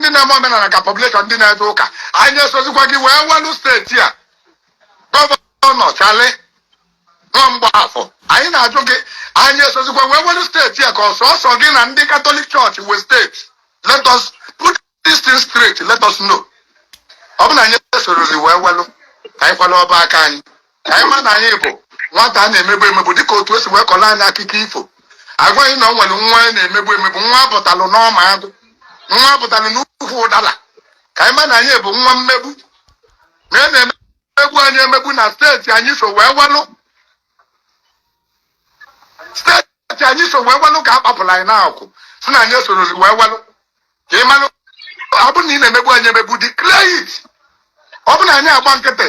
ndị na-eme omenana ka population ndị na-eje ụka anyị esozikwa gị wee nwelu steeti a gọvanọ charlie nwa mgbafọ anyị na-ajụ gị anyị esozikwa wee nwelu steeti a ka ọ sọsọ gị na ndị katọlik chọọchị nwe steeti let us put this thing straight let us know ọ bụ na anyị esorozi wee nwelu ka anyị kwala ọba aka anyị ka anyị ma na anyị bụ nwata a na-emegbu emegbu dịka otu e si wee kọrọ anyị akụkọ ifo agwa anyị na o nwere nwa a na-emegbu emegbu nwa butalụ n'ọma agụ nwa butalụ n'ukwu ụdala ka anyị ma na anyị bụ nwa mmegbu na a na-emegbu anyị emegbu na steeti anyị so wee nwelu steeti anyị so wee nwelu ka a kpapụlụ anyị n'akwụ sị na anyị esoro wee nwelu ka ị malụ ọ bụrụ na ị na-emegbu anyị emegbu declare it ọ bụrụ na anyị agba nkịtị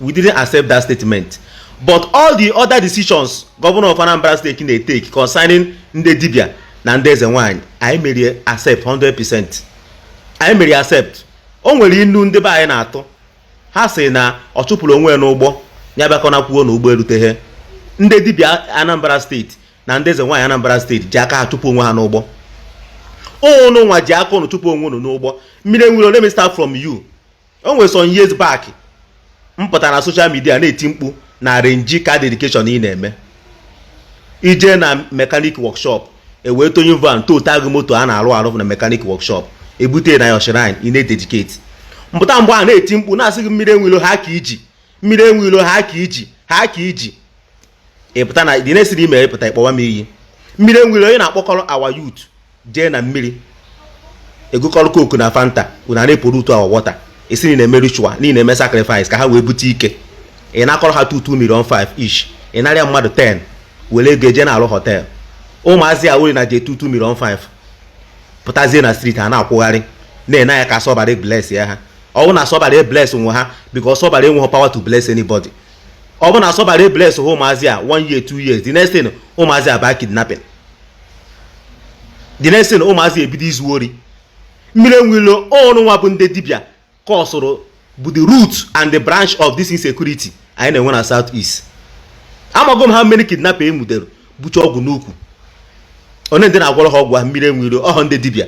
we didn't accept that statement but all the other decisions governor of Anambra State na-etake concerning ndị dibia na ndị eze nwanyị anyị mere accept 100% anyị mere accept o nwere inu ndị be anyị na-atụ ha sị na ọ chụpụrụ onwe ya n'ụgbọ ya abịakwana kwuo na ụgbọ eruteghị ndị dibia Anambra steeti na ndị eze nwaanyị Anambra steeti ji aka ha chụpụ onwe ha n'ụgbọ ụnụ nwa ji aka ụnụ chụpụ onwe ụnụ n'ụgbọ mmiri enwe ilo let me start from you o nwere some years back m pụtara na social media na-eti mkpu na arrangee car dedication ị na-eme i jee na mekanik workshop ewee towing van towta gị moto a na-arụ arụ na mekanik workshop ebute na your shrine ị na-ededicate m pụta mgbe a na-eti mkpu na-asị gị mmiri enwe ilo ha ka i ji mmiri enwe ilo ha ka i ji ha ka i ji ị pụta na dị na-esiri ime ị pụta ị kpọwa m iyi mmiri enwe ilo ị na-akpọkọrọ our youth jee na mmiri egokọrọ coke na fanta unu a na-epollute our water esi na-eme ritual niile eme sacrifice ka ha wee bute ike ị na-akọrọ ha two two milion 5 each ị narịa mmadụ 10 were ego eje na-alụ họtel ụmụazị a wuri na je two two milion 5 pụtazie na street a na-akwụgharị na-ene anya ka sọbara bless ya ha ọwụ na sọbara bless nwe ha because sọbara enweghị power to bless anybody ọ bụ na asọbara ebless ha ụmụazị a one year two years the next thing ụmụazị a baa kidnapping the next thing ụmụazị ebido izu ori mmiri enwe ilo unu nwa bụ ndị dibịa kọsụrụ bụ the root and the branch of this insecurity anyị na-enwe na south east amago m how many kidnapper e nwudere bucha ọgwụ n'ukwu onee ndị na-agwọrọ ha ọgwụ ha mmiri enwe ilo ọhọ ndị dibịa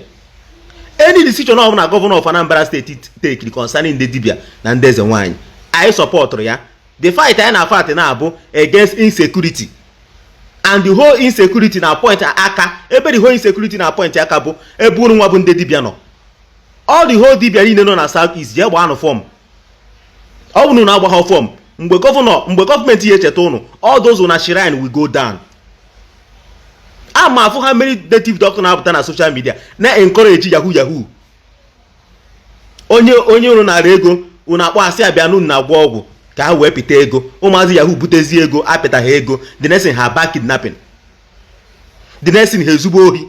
any decision ọbụna gọvanọ of Anambra steeti tekiri concerning ndị dibia na ndị eze nwaanyị anyị sọpọtụrụ ya the fight anyị na-afight na-abụ against insecurity and the whole insecurity na-apoint aka ebe the whole insecurity na-apoint aka bụ ebe unu nwa bụ ndị dibia nọ all the whole dibia niile nọ na south east jee gbaanụ form ọ bụrụ na unu agbaghọ fọm mgbe gọvanọ mgbe gọọmenti ya echeta unu all those na shrine will go down a ma afụ ha many native doctor na-apụta na social media na encourage yahoo yahoo onye onye unu nara ego unu akpọ ha sị bịa n'unu na-agwọ ọgwụ ka ha wee pịta ego ụmụazị yahoo butezi ego apịta ha ego the next thing ha ba kidnapping the next thing ha ezube ohi